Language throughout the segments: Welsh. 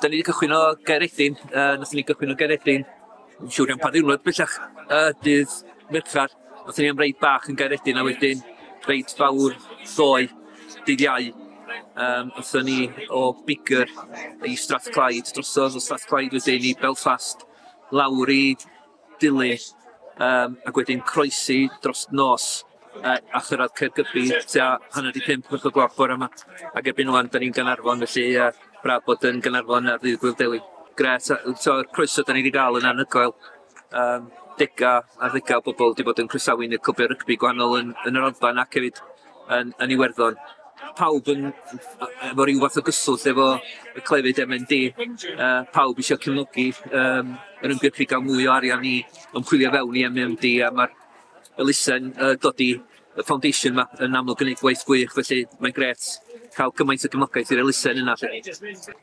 Da ni wedi cychwyn o Gaeredin, uh, nathon ni gychwyn o Gaeredin, yn siŵr iawn pa ddiwrnod bellach, uh, dydd Merchar, nathon ni am reid bach yn Gaeredin a wedyn reid fawr ddoe, dydd Iau. Um, nathon ni o Bigger i Strathclyde, drosodd o Strathclyde wedyn i Belfast, lawr i dilyn yym ac wedyn croesi dros nos yy a chyrradd Caergybi tua hanner 'di pump chwech o'r gloch bore 'ma ag erbyn ŵan 'dan ni'n Gaernarfon felly yy braf bod yn Gaernarfon ar ddydd Gŵyl Dewi. Grêt yy yy t'o'r croeso 'dan ni 'di ga'l yn anhygoel yym dega ar ddega o bobol 'di bod yn croesawu ni clwbia rygbi gwahanol yn yn yr Alban ac hefyd yn, yn Iwerddon. Pawb yn, efo rhyw fath o gyswllt efo y clefyd MND, uh, pawb eisiau cefnogi um, yr ymgyrchu gael mwy o arian i ymchwilio fewn i MMD a mae'r elusen uh, dod i y foundation yma yn amlwg yn gwneud gwaith gwych, felly mae'n gret cael cymaint o gefnogaeth i'r elusen yna.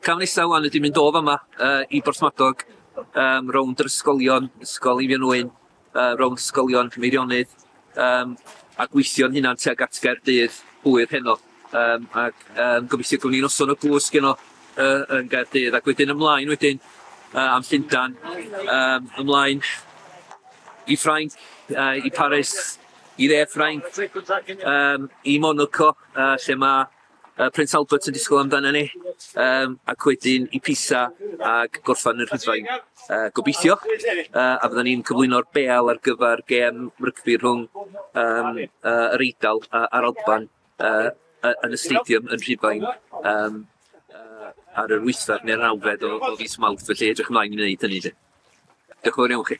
Cam nesaf wan ydy mynd o fama uh, i Borthmadog, um, rownd yr ysgolion, ysgol Eifion Owen, uh, rownd ysgolion Meirionnydd, um, a gweithio'n hunan tuag at Gaerdydd hwyr heno. Um, ac um, gobeithio gwni ni'n noson o gwsg yno uh, yn Gaerdydd, ac wedyn ymlaen wedyn uh, am Llundan, um, ymlaen i Ffrainc, uh, i Paris, i dde Ffrainc, um, i Monaco, uh, lle mae uh, Prince Albert yn disgwyl amdana ni, um, ac wedyn i Pisa ac gorffan yr Rhydfain. Uh, gobeithio, uh, a fydden ni'n cyflwyno'r beal ar gyfer gem rygbi rhwng um, uh, yr Eidal uh, a'r Alban uh, yn y stadium yn Rhydfain. Um, uh, ar yr wythfed neu'r nawfed o, o fis Mawrth, felly edrych ymlaen i wneud hynny. Diolch yn fawr iawn chi.